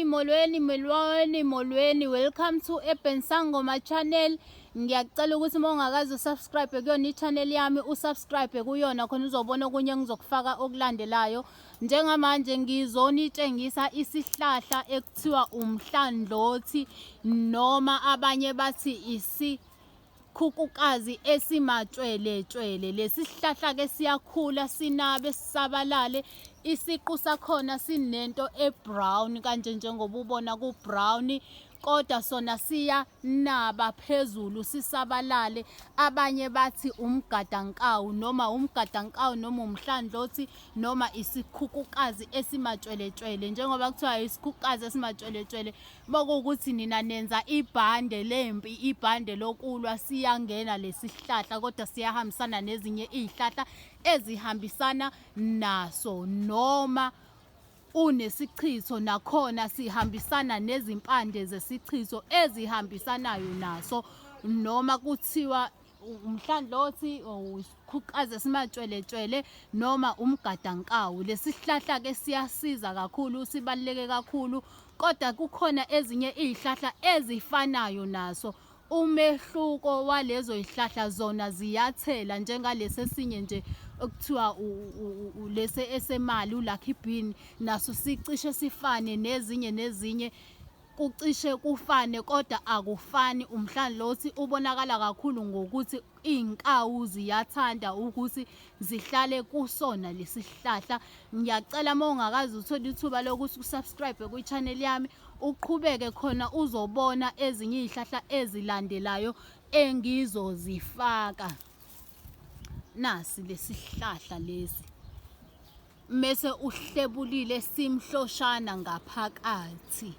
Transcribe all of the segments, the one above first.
Molweni, molweni, molweni, molweni. Welcome to Urban Sangoma channel. Ngiyacela ukuthi uma ungakazi usubscribe kuyona i-channel yami, usubscribe kuyona khona uzobona okunye engizokufaka okulandelayo. Njengamanje ngizonitshengisa isihlahla ekuthiwa umhlandlothi noma abanye bathi isi Khukukazi esimatshweletshwele lesihlahla ke siyakhula sinabe sisabalale isiqu sakhona sinento ebrown kanje njengoba ubona ku brown kodwa sona siyanaba phezulu sisabalale abanye bathi umgadankawu noma umgadankawu noma umhlandlothi noma isikhukukazi esimatshweletshwele njengoba kuthiwa isikhukukazi esimatshweletshwele makuwukuthi nina nenza ibhande lempi ibhande lokulwa siyangena lesihlahla kodwa siyahambisana nezinye izihlahla ezihambisana naso noma unesichitho nakhona sihambisana nezimpande zesichitho ezihambisanayo naso noma kuthiwa umhlanhlothi usikhuqaze simatshweletshwele noma umgadankawu lesihlahla ke siyasiza kakhulu sibaluleke kakhulu kodwa kukhona ezinye izihlahla ezifanayo naso umehluko walezo zihlahla zona ziyathela njengalesi esinye nje okuthiwa lesi esemali ulucky bean naso sicishe sifane nezinye nezinye kucishe kufane kodwa akufani umhlanlothi ubonakala kakhulu ngokuthi iy'nkawu ziyathanda ukuthi zihlale kusona lesi sihlahla ngiyacela uma ungakazi uthole ithuba lokuthi usubscribe kwi-channel yami uqhubeke khona uzobona ezinye iy'hlahla ezilandelayo engizozifaka nasi lesi sihlahla lesi mese uhlebulile simhloshana ngaphakathi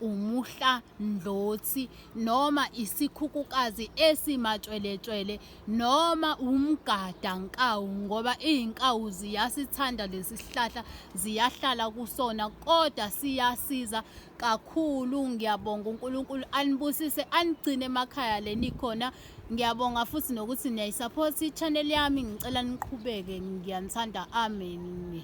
umuhla ndlothi noma isikhukukazi esimatshweletshwele noma umgada nkawu ngoba izinkawu ziyasithanda lesihlahla ziyahlala kusona kodwa siyasiza kakhulu ngiyabonga uNkulunkulu anibusise anigcine emakhaya lenikhona Ngiyabonga futhi nokuthi niyayisupport i-channel yami ngicela niqhubeke ngiyanithanda amen.